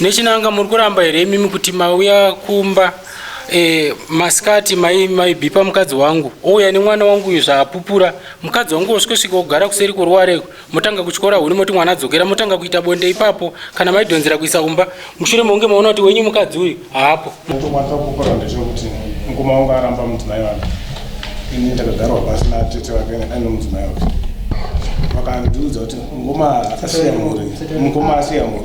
Nechinanga muri kuramba here imimi kuti mauya kumba e, masikati maibhipa mai mukadzi wangu ouya nemwana wangu uyu zvaapupura mukadzi wangu osvikosvika ogara kuseri kworuware motanga kutyora huni moti mwana adzokera motanga kuita bonde ipapo kana maidhonzera kuisa kumba mushure mounge maona kuti wenyu mukadzi uyu haapo mukoma wangu aramba mudzimai wake ini ndakagarwa pasi natete vake aine mudzimai wake vakandiudza kuti mukoma akasiya mhuri mukoma asiya mhuri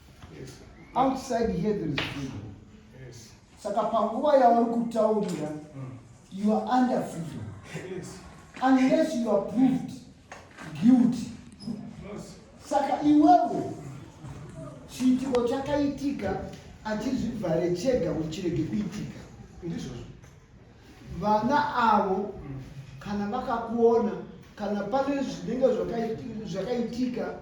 outside here there is freedom saka panguva yauri kutaurira mm. you are under freedom unless you are proved guilty saka iwewe chiitiko chakaitika achizvivhare chega uchirege kuitika ndizvozvo vana avo kana vakakuona kana pane zvinenge zvakaitika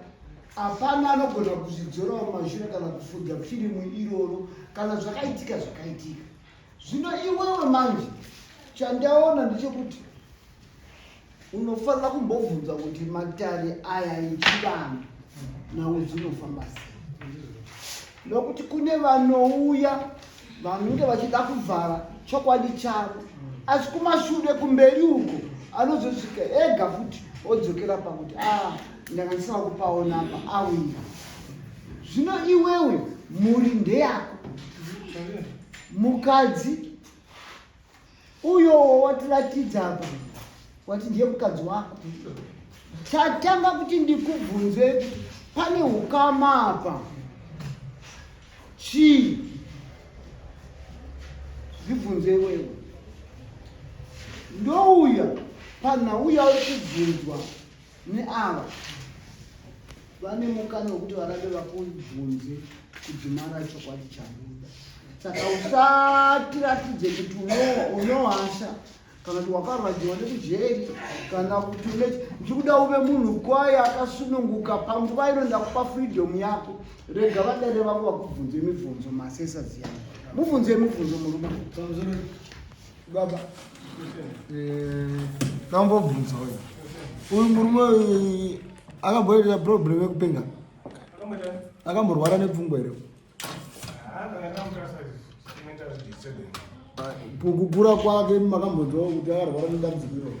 hapana anogona kuzvidzorawo mashure kana kufudza firimu iroro kana zvakaitika zvakaitika zvino iwewe manje chandaona ndechekuti unofanira kumbobvunza kuti matare aya echivanhu nawo zvinofamba sei nokuti kune vanouya vanenge vachida kuvhara chokwadi chavo asi kumashure kumberi uko anozosvika ega futi odzokera pakuti a ah, ndanga ndisava kupaona apa auya zvino iwewe mhuri ndeyako mukadzi uyowo watiratidza apa wati ndiye mukadzi wako chatanga kuti ndikubvunze kuti pane ukama apa chii zvibvunze iwewe ndouya panhau yauri kubvunzwa neava vane mukana wekuti varambe vakubvunze kudhumara chokwadi chabuda saka usatiratidze kuti unohasha kana kuti wakarwadziwa nekujeri kana kuti une ndikuda uve munhu kwaye akasununguka panguva ino ndakupa freedom yako rega vadare vako vakubvunze mibvunzo masesa ziyana mubvunze mibvunzo murume Baba. Eh, kambobvunza uyu. Uyu murume uyu akamboita problem yekupenga. Akamborwara nepfungwa here? Kukura kwake makambonzwa kuti akarwara nedambudziko iroro.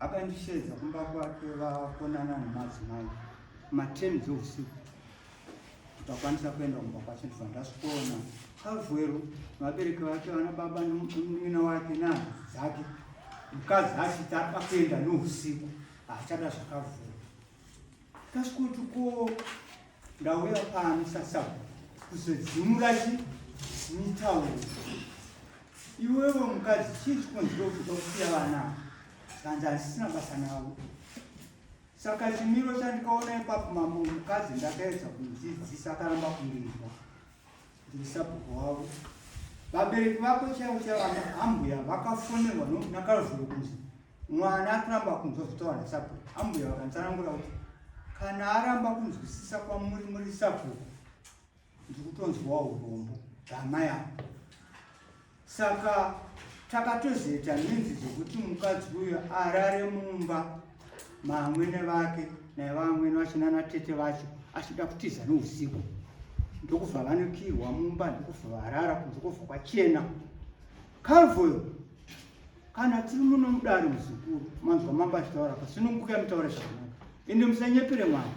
akandisheedza kumba kwake vakonana nemadzimai maten dzeusiku tikakwanisa kuenda kumba kwacho ndibva ndasvikoona kavhwero vabereki vake vana baba nomwina wake nani dzake mukadzi achiti ari pakuenda nousiku haachada zvakavhura kasvikuti ko Ndauya pano sasabhuku kuzodzimura chi mitauro iwewe mukadzi chii chikonzero kuda kusiya vana zvanzi hazisina basa navo saka chimiro chandikaona ipapo mambo mukadzi ndakaedza kunzidzisa akaramba kundirwa ndiri sabhuku wavo vabereki vako chaivo chaivo vana ambuya vakafonerwa nakaruzuro kunzi mwana akuramba kunzwa zvitawana sabhuku ambuya vakanditsanangura kuti kana aramba kunzwisisa kwamuri muri sabhuku ndiri kutonzwawo urombo dama yavo saka takatozoita nhinzi dzekuti mukadzi uyo arare mumba maamwene vake naivamwene vacho nanatete vacho achida kutiza nousiku ndokubva vanokirwa mumba ndokubva varara kunze kobva kwachena calvoyo kana tiri muno mudare muzukuru manzwa mambo achitaura pasunungukai mutaure zvakanaka ende musanyepere mwana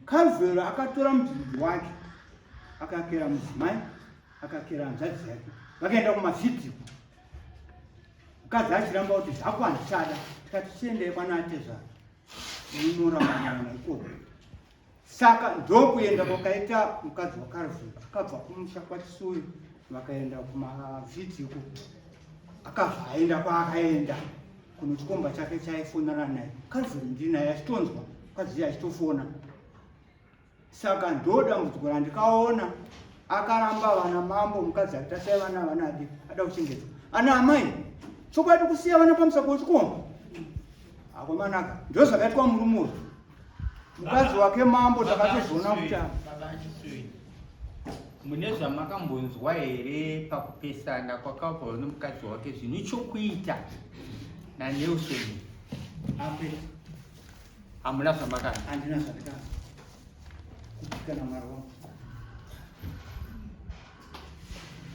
kavhero akatora mudhudhu wake akakera mudzimai akakera hanzvadzi yake vakaenda kumafiti mukadzi achiramba kuti zvako handichada tikati chiendei kwana atezvara unorambanaana ikoko Saka ndokuenda kwakaita mukadzi waKalvin akabva kumusha kwaChisuri vakaenda kumavhidzi uko akabva aenda kwaakaenda kuno chikomba chake chaifonana naye Calvin ndinaye achitonzwa mukadzi achitofona saka ndodambudziko randikaona akaramba vana mambo mukadzi akitasai vana vanadi ada kuchengedzwa ana amai chokwadi kusiya vana pamusako wechikomba akomanaka ndozvakaitwa murume uyu mukadzi wake mambo takatozoona kuti mune zvamakambonzwa here pakupesana kwakabva nemukadzi wake zvine chokuita nanelson ape hamuna zvamakana handina zvandikana kutikana mwari wangu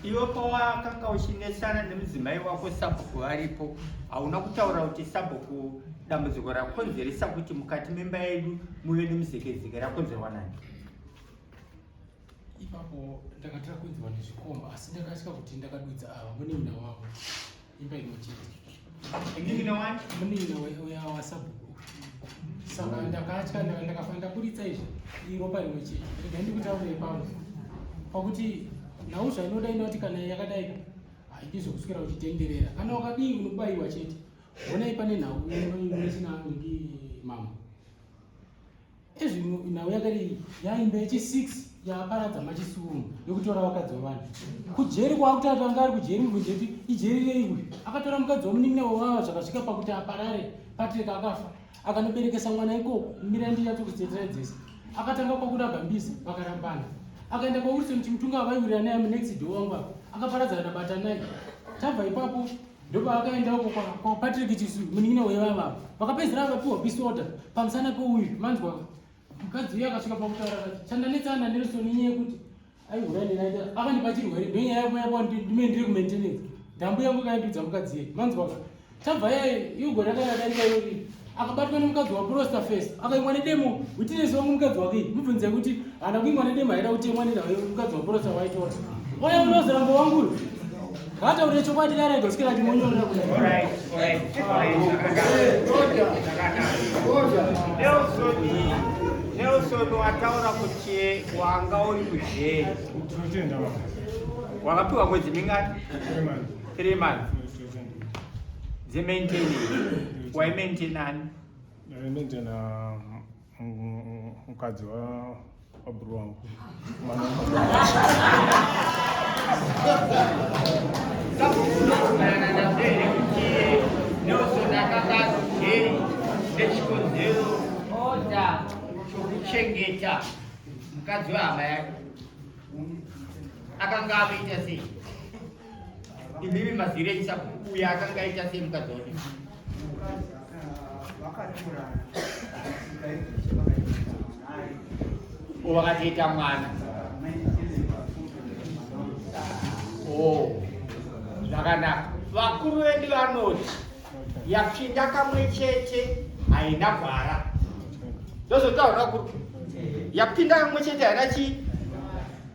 Iwe pawakanga uchinetsana nemudzimai wako sabhuku varipo, hauna kutaura kuti sabhuku dambudziko rakonzeresa kuti mukati memba yedu muve nemuzekezeke rakonzerwa nani? Ipapo ndakatira kunzwa nezvikomba asi ndakatya kuti ndakadudza ava mune mina wavo. Imba imwe chete. Ndivina wani? Munina uya wasabhuku. Saka ndakatya ndakafa ndaburitsa izvi iropa rimwe chete. Rega ndikutaurei pano. Pakuti nhau zvainoda inoti kana yakadai haidi zvokuswera uchitenderera. Kana wakadii unobaiwa chete. Honai pane nhau inoisina ndi mama. ezvino nhau yakadii yaimba yechi 6 yaaparadza machisumu yokutora vakadzi vavanhu kujeri kwaakutatu anga ari kujeri mubvunze kuti ijeri rei uyu akatora mukadzi wamunin'ina wevava zvakasvika pakuti aparare patrika akafa akanoberekesa mwana ikoko mira ndiyato kusetera dzese akatanga kwakurabha mbizi vakarambana akaenda kwawilson chimutunga avaiwirira naye munext do wangu apa akaparadzana nabatanai tabva ipapo ndopaakaenda uko kwapatrick chisu munin'ina wevava vakapedzera vakapiwa peace order pamusana peuyu manzwa mukadzi uye akasvika pakutaura kati chandanetsana nelson inyaya yekuti aihura nenaita akandipa chirwere ndonyaya yekumayakuandime ndiri kumaintenance ndambu yangu kaindudza mukadzi ye manzwa tabva yaye iugore akayadaika yori akabatwa nemukadzi waprosta face akaimwa nedemo witness wangu mukadzi wake mubvunze kuti hana kuimwa nedemo haida kutemwa nemukadzi waprosta waitora oya unoziramba wangu uyu ngataurire chokwadi darega usikira timonyorera kuti nelson wataura kuti wanga uri kuzheri wakapiwa mwedzi mingani three months dzemaintenance waimaintenani ndaimaintena mukadzi wabhuru wangu nechikonzero oda chokuchengeta mukadzi wehama yake akanga avita sei Imimi mazire isa kuya akanga aita sei mukadzi wake? Vakatorana. Vakatoita mwana. Oh. Zvakanaka. Vakuru vedu vanoti yapinda kamwe chete haina gwara. Ndozotaura kuti yapinda kamwe chete haina chii?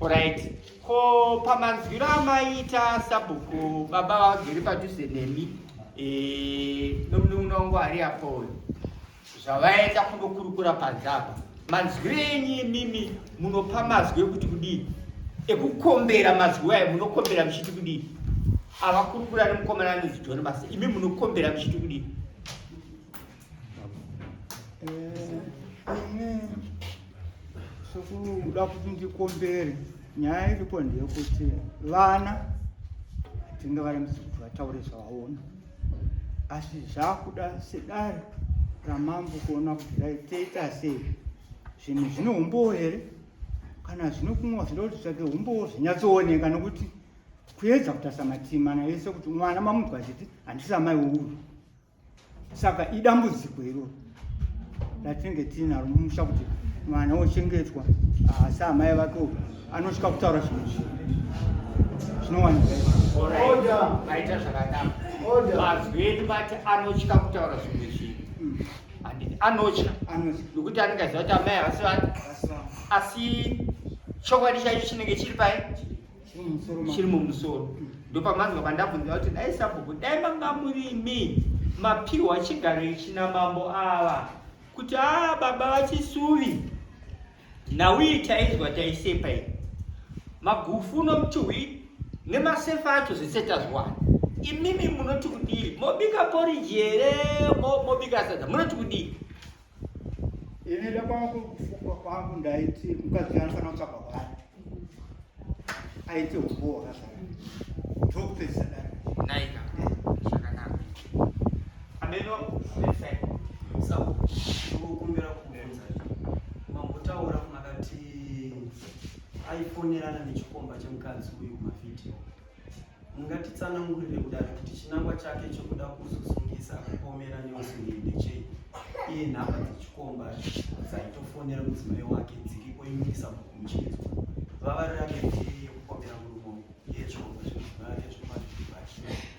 Alright. Ko pamanzwiro amaita sabhuku baba vagere padhuze nemi eh, nomunun'una wangu ari apo uyu zvavaenda kundokurukura panze apa manzwi enyu imimi munopa mazwi ekuti kudii ekukombera mazwi ayo munokombera muchiti kudii avakurukura nemukomana anonzi joni basa imi munokombera muchiti kudii sokuda eh, kuti ndikombere nyaya iripo ndeyekuti vana hatinga varambisi kuti vataure zvavaona asi zvakuda sedare ramambo kuona kuti raitoita sei zvinhu zvine umbowo here kana zvine kumwa zvinoda kuti tsvake umbowo zvinyatsooneka nokuti kuedza kutasa matimana yese kuti mwana mamunzwa achiti handisa mai wouyu saka idambudziko iroro ratinenge tiinaro mumusha kuti mwana ochengetwa asi ah, amai vake uyu anosvika kutaura zvinhu zvi zvinowanikaita zvakadaro mazwi edu vati anotya kutaura zvinhu zvi hmm. anotya nokuti anenge aziva kuti amai havasi vati asi chokwadi chaicho chinenge chiri pai chiri mumusoro ndopamanzwa pandabvunza kuti dai sabhuku dai manga murimi mapiwa chigaro ichi namambo ava kuti a ah, baba vachisuvi nhauyi tainzwa taisepa i magufu nomuchuhwi nemasefa acho zvese tazwana imimi munoti kudii mobika poriji here mobika sadza munoti kudii Ini ndakwangu kufuka kwangu ndaiti mukadzi wangu kana kutsvaka kwani. Aite uboho hasa. Tokupedza dai. Naika. Zvakanaka. Ameno perfect. Sabu kukumbira kubvunza. Mambotaura kumakati aifonerana nechikomba chemukadzi uyu mavhidhiyo. Mungatitsanangurire kudaro kuti chinangwa chake chokuda kuzosungisa kupomera Nelson ndechei? Iye nhamba dzechikomba dzaitofonera mudzimai wake dziri oimirisa muchinzwa vava rake yekupomera murumo yechombo zvemudzimai wake zvekumazuva achii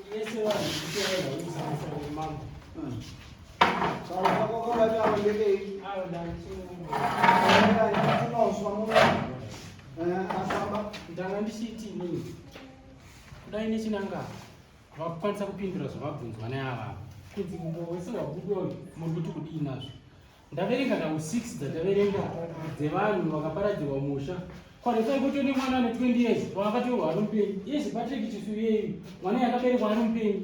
ndanga ndichiti inini kudai nechinanga vakukwanisa kupindura zvavabvunzwa neavava kunzi mbo wese wabudoyo muri kuti kudii nazvo Ndaverenga nhau 6 dzataverenga dzevanhu vakaparadzirwa musha kwarisai kuti une mwana ane 20 years waakatorwa ari mupenyu yese patrick chisuyeyu mwana yakaberekwa ari mupenyu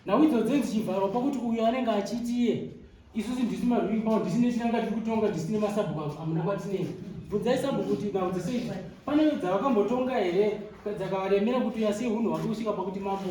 nhau idzo dzenzi chivharwa pakuti uyo anenge achiti iye isusu ndisi marwimbao ndisine chinanga tiri kutonga ndisine masabhuku amuna kwatinei bvunzai sabhuku kuti nhau dzese idzi pane dzavakambotonga here dzakavaremera kuti uyasei hunhu hwake kusvika pakuti mambo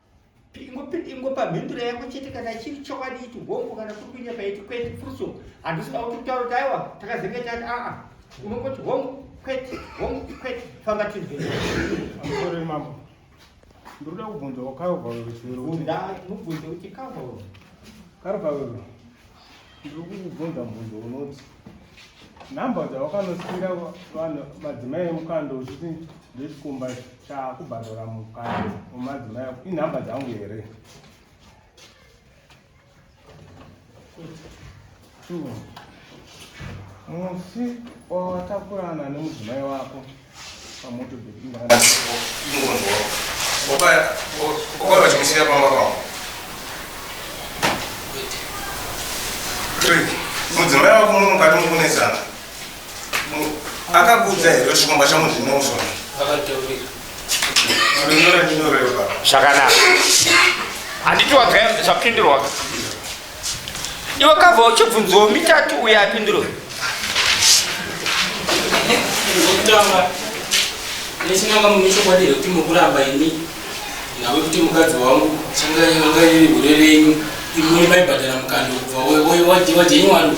ingopa mhinduro yako chete kana chiri chokwadi iti hongu kana kuri kuita paiti kwete furuso handisina kuti kutaura kuti aiwa takazenge tati aa unongoti hongu kwete hongu kwete famba tinzvere mambo ndoda kubvunzawo karvavero chero mubvunze kuti karvavero karvavero ndiri kukubvunza mubvunzo unoti number dzawakanosikira vanhu madzimai emukando uchiti ndechikumba chakubhadhara mukando wemadzimai ako inhamba dzangu here musi wawatakurana nemudzimai wako mudzimai wako muno mukati mukunetsana akakuudza here kuti chikomba changu ndinousona zvakanaka handiti wagaya zvapindurwa iwe kava uchibvunzawo mitatu uye apinduro zvekutanga nechinanga mune chokwadi here kuti mukuramba ini nave kuti mukadzi wangu changa iri hure renyu imwe maibhadhara mukando kubva wajenywaru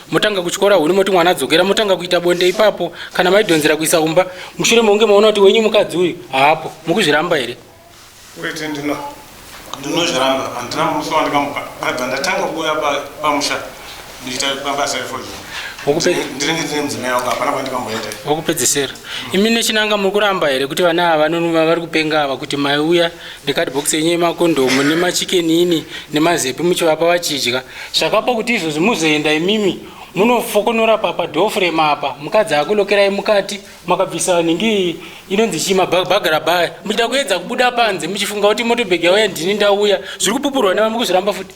motanga kuchikora huni moti mwana adzokera motanga kuita bonde ipapo kana maidhonzera kuisa kumba mushure mounge maona kuti wenyu mukadzi uyu haapo mukuzviramba here wete ndino ndinozviramba handina musi wandikamuka abva ndatanga kuuya pamusha ndichiita pabasa refoji ndinenge ndine mudzimai wangu hapana kwandikamboenda wokupedzisira imi nechinanga muri kuramba here kuti vana ava vanonuma vari kupenga ava kuti mai uya nekadhibhokisi yenyu yemakondomu nemachikenini nemazepi muchivapa vachidya zvakapa kuti izvozvi muzoenda imimi munofokonora papa dofrem apa mukadzi akulokerai mukati makabvisa nhingi inonzi chii mabhagara baya muchida kuedza kubuda panze muchifunga kuti motobhegi yauya ndini ndauya zviri kupupurwa nevamwe kuzviramba futi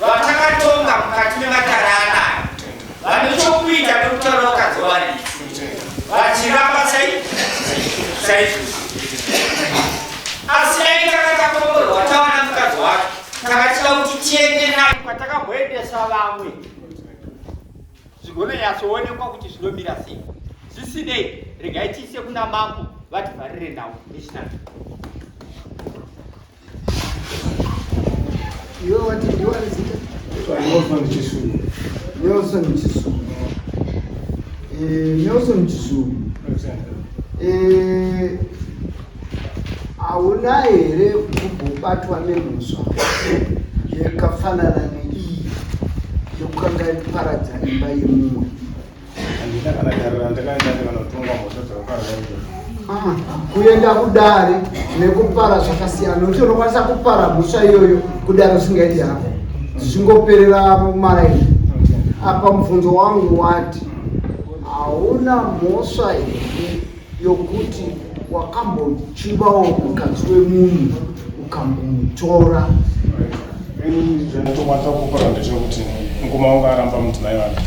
vatakatonga mukati mematare anayo vane chokuita nekutaura vakadzi vavarisi vachiramba saizvozvi asi dai takatakomborwa tawana mukadzi wacho takatida kuti tiende naye kwatakambhoendesa vamwe zvigononyatsoonekwa kuti zvinomira sei zvisinei regai tiise kuna mambo vativharire nhau nechinaa Iwe wati ndiwe ari zita? Nelson Chisulu. Nelson Chisulu. Eh, Nelson Chisulu. Eh, hauna here kugobatwa nemhosva yakafanana neiyi yokukanga iparadza imba yemumwe? Handina kana dare randakaenda ndi vanotongwa mhosva dzakakaraia. kuenda kudare nekupara zvakasiyana nokuti unokwanisa kupara mhosva iyoyo kudare usingaiti hako zvichingoperera maraini apa mubvunzo wangu wati hauna mhosva here yokuti wakambochivawo mukadzi wemunhu ukambomutora ndinotomata kukora ndechekuti mukoma wangu aramba mudzimai wake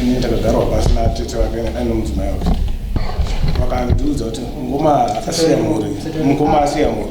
ini ndakagarwa pasi natete vake aine mudzimai wake vakandiudza kuti mukoma akasiya mhuri mukoma asiya mhuri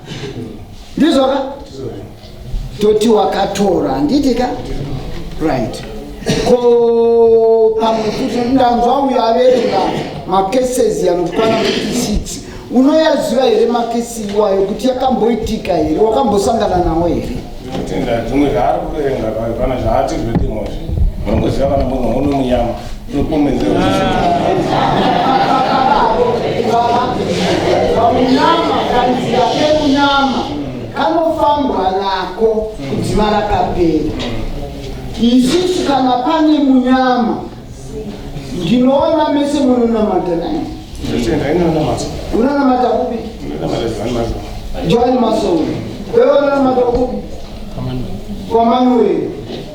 ndizvo ka toti wakatora handiti ka right ko pamwe kuti ndanzwa uyo averenga macases anokwana kuti six unoyaziva here makesi iwayo kuti yakamboitika here wakambosangana nawo here tenda dzimwe zvaari kuverenga pana zvaati zvetimozvi munongoziva kana munhu unomunyama kanofambwa nako kudzima rakapera isisu kana pane munyama ndinoona mese munonamata nai unonamata kupi joani masowe wewe unonamata kupi kwamanuwei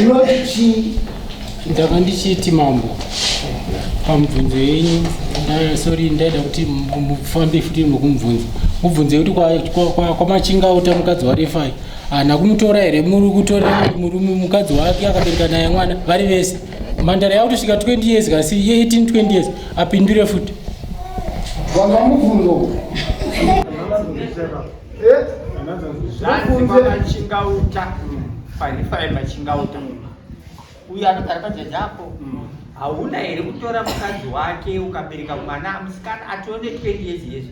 Unoti chii? Ndanga ndichiti mambo pamubvunzo yenyu nda- sorry ndaida kuti mu- mufambe futi nokumubvunza mubvunze kuti kwa- kwa- kwa- kwamachinga uta mukadzi warefai hana kumutora here muri kutora murume mukadzi wake akabereka naye mwana vari vese mhandara yakutosvika 20 years kasi 18 20 years apindure futi Wanga mubvunzo. Eh? Zvanzi kwamachingauta. Panifai machingauta. Uyu anogara pajaji apo. Mm. Hauna here kutora mukadzi wake ukabereka mwana musikana atove ne 20 years years.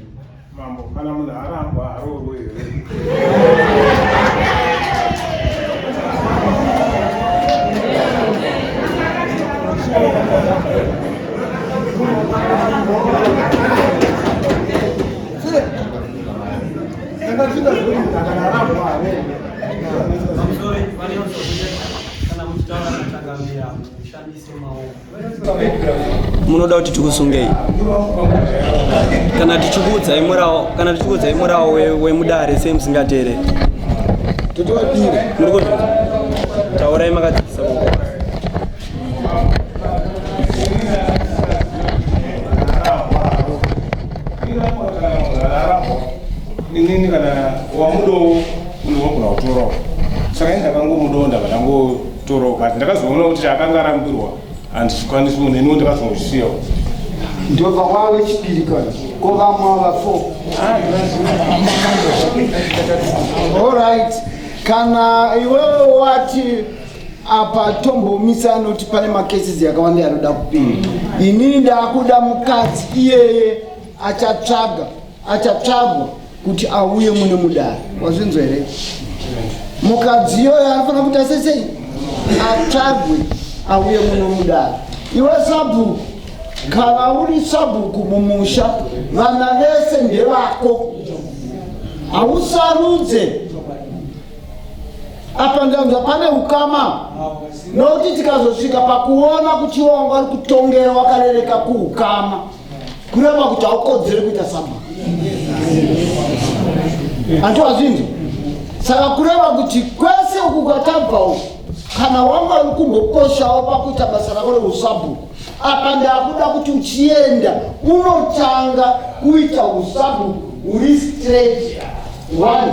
Mambo kana munhu arambwa haroorwe here? munoda kuti tikusungei kana tichikuudzai murawo kana tichikuudzai murawo wemudare sei musingateerei muri kuzvi taurai makadzikisa inini kana wamudowo unogona kutorawo saka ini ndakangomudowo ndabva ndangotorawo kati ndakazoona kuti chaakanga arambirwa handizvikwanisi munhu iniwo ndakazongosiyawo ndobva kwava wechipiri kani ko vamwe ava four allright kana iwewe wati apa tombomisa anoti pane macases yakawanda yanoda kupinda inini ndaakuda mukadzi iyeye achatsvaga achatsvagwa kuti auye mune mudari wazvinzwa here mukadzi iyoyo anofanira kuita sesei atsvagwe auye muno mudari iwe sabhuku kana uri sabhuku mumusha vana vese ndevako hausarudze apa ndanzwa pane ukama nokuti tikazosvika pakuona kuti iwo wanga uri kutongera wakarereka kuukama kureva kuti haukodzere kuita saba antiwa zvinzi saka kureva kuti kwese uku kwatabva uku kana wanga uri kumbokoshawo pakuita basa rako reusabhuku apa ndakuda kuti uchienda unotanga kuita usabhuku uri straight one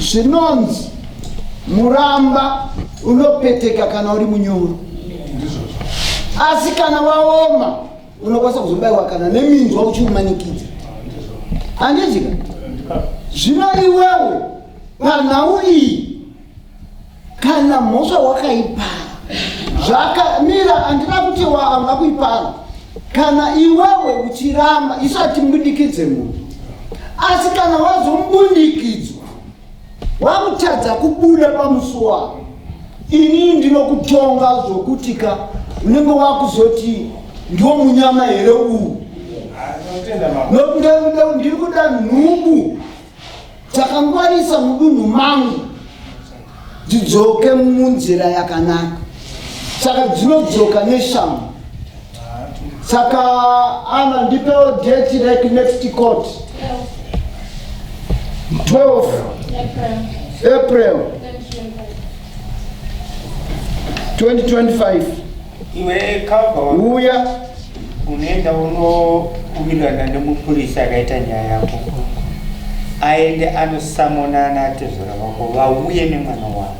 zvinonzi muramba unopeteka kana uri munyoro asi kana waoma unokwanisa kuzobaiwa kana neminzwa uchiumanikidza handizika zvino iwewe panhau iyi kana mhosva wakaipara zvakamira andina kuti waanga kuipara kana iwewe uchiramba isu hatimbundikidze munhu asi kana wazombundikidzwa wakutadza kubuda pamusi wako inii ndinokutonga zvokutika unenge wakuzoti ndiwo munyama here uwu ndiri kuda nhubu Takangwarisa mudunhu mangu dzidzoke munzira yakanaka saka dzinodzoka neshamu saka ana ndipewo date like next court 12 april 2025 Iwe Kava uya unoenda unowirirana nemupurisa akaita nyaya yako aende anosamona ana atezvara vako vauye nemwana wavo.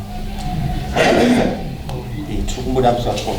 Tiri kumboda kusakona.